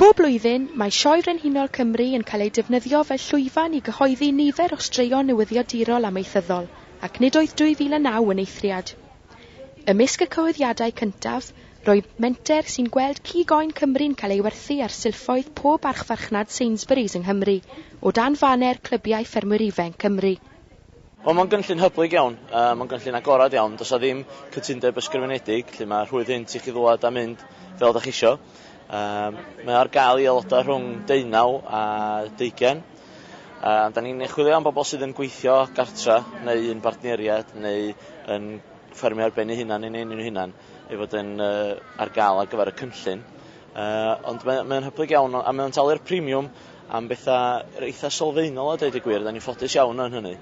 Bob blwyddyn, mae Sioe Frenhinol Cymru yn cael ei defnyddio fel llwyfan i gyhoeddi nifer o straeon newyddiadurol amaethyddol, ac nid oedd 2009 yn eithriad. Ymysg y cyhoeddiadau cyntaf, Rwyf menter sy'n gweld cig oen Cymru'n cael ei werthu ar silffoedd pob archfarchnad Sainsbury's yng Nghymru, o dan faner Clybiau Ffermwyr Ifainc Cymru. Wel, mae'n gynllun hyblyg iawn, mae'n gynllun agored iawn, does 'na ddim cytundeb ysgrifenedig, felly mae rhwydd hynt i chi ddŵad a mynd fel dach chi isio. Mae ar gael i aelodau rhwng deunaw a deugain. Da ni'n chwilio am bobl sydd yn gweithio gartra neu un bartneriaid neu yn ffermio ar ben eu hunan neu yn eu hunan. ei fod yn uh, ar gael ar gyfer y cynllun. Uh, ond mae'n mae hyblyg iawn a mae'n talu'r premium am bethau eitha sylfaenol a dweud y gwir, da ni'n ffodus iawn yn hynny.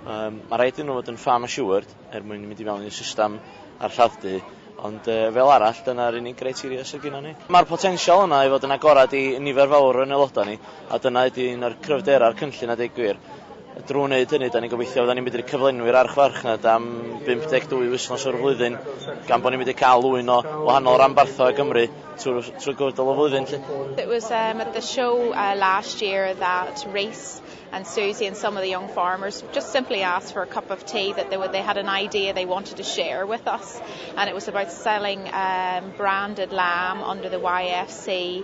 Um, mae rhaid iddyn nhw fod yn farm assured er mwyn mynd i mewn i'r system a'r lladd-du, ond uh, fel arall, dyna'r unig greiteria sydd gyda ni. Mae'r potensial yna i fod yn agorad i nifer fawr yn aelodau ni, a dyna ydy un o'r cryfderau'r cynllun a dweud gwir. Drwy wneud hynny, da ni'n gobeithio fyddan ni'n medru cyflenwi'r archfarchnad am 52 wythnos o'r flwyddyn, gan bod ni'n medru cael ŵyn o wahanol ranbarthau o Gymru trwy, trwy gydol y flwyddyn. Lly. It was um, at the show uh, last year that Reese and Susie and some of the young farmers just simply asked for a cup of tea that they, were, they had an idea they wanted to share with us. And it was about selling um, branded lamb under the YFC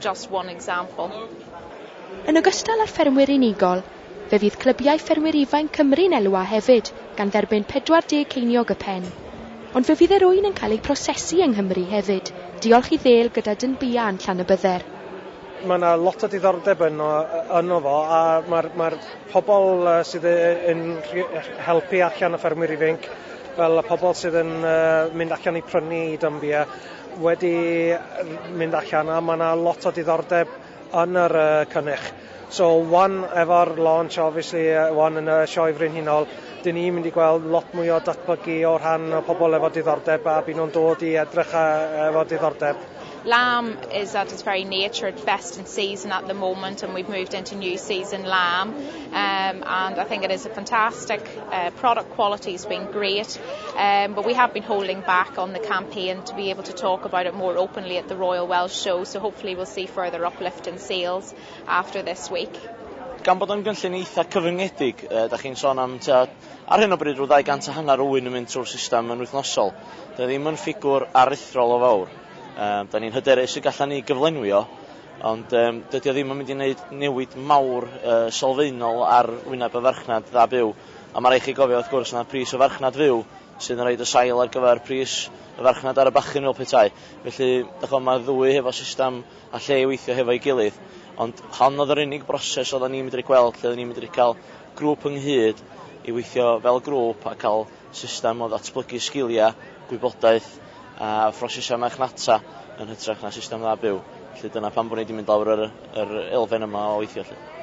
just one example. Yn ogystal â'r ffermwyr unigol, fe fydd clybiau ffermwyr ifainc Cymru'n elwa hefyd gan dderbyn 40 ceiniog y pen. Ond fe fydd yr ŵyn yn cael eu prosesu yng Nghymru hefyd, diolch i ddêl gyda dyn bia yn Llanybydder. Mae yna lot o diddordeb yno yno fo a mae'r mae'r pobl yy sydd yy yn rhi- helpu allan y ffermwyr ifainc fel y pobl sydd yn yy mynd allan i prynu dyn bia wedi mynd allan a mae 'na lot o diddordeb yn yr yy cynnych. So wan efo'r launch obviously yy wan yn y Sioe Frenhinol 'dyn ni'n mynd i gweld lot mwy o datblygu o rhan y pobl efo diddordeb a byn nhw'n dod i edrych a efo diddordeb. Lamb is at its very nature at best in season at the moment and we've moved into new season lamb. Um, and I think it is a fantastic uh, product quality has been great um, but we have been holding back on the campaign to be able to talk about it more openly at the Royal Welsh Show so hopefully we'll see further uplift in sales after this week. gan bod o'n gynllun eitha cyfyngedig, e, da chi'n sôn am tua, ar hyn o bryd rhyw 200 a hanner o wyn yn mynd trwy'r system yn wythnosol. Da ddim yn ffigwr aruthrol o fawr. E, da ni'n hyderus y gallan ni gyflenwio Ond yym dydi o ddim yn mynd i neud newid mawr yy sylfaenol ar wyneb y farchnad dda byw. A ma' rai' chi gofio wrth gwrs na pris y farchnad fyw sydd yn roid y sail ar gyfer pris y farchnad ar y bachyn fel petai. Felly dych ch'mo' ma'r ddwy hefo system a lle i weithio hefo'i gilydd. Ond hon o'dd yr unig broses oddan ni medru gweld lle odden ni medru ca'l grŵp ynghyd i weithio fel grŵp a ca'l System o ddatblygu sgiliau, gwybodaeth a phrosesau marchnata yn hytrach na system dda byw. Felly dyna pam bod ni wedi mynd lawr yr, yr elfen yma o weithio. Felly.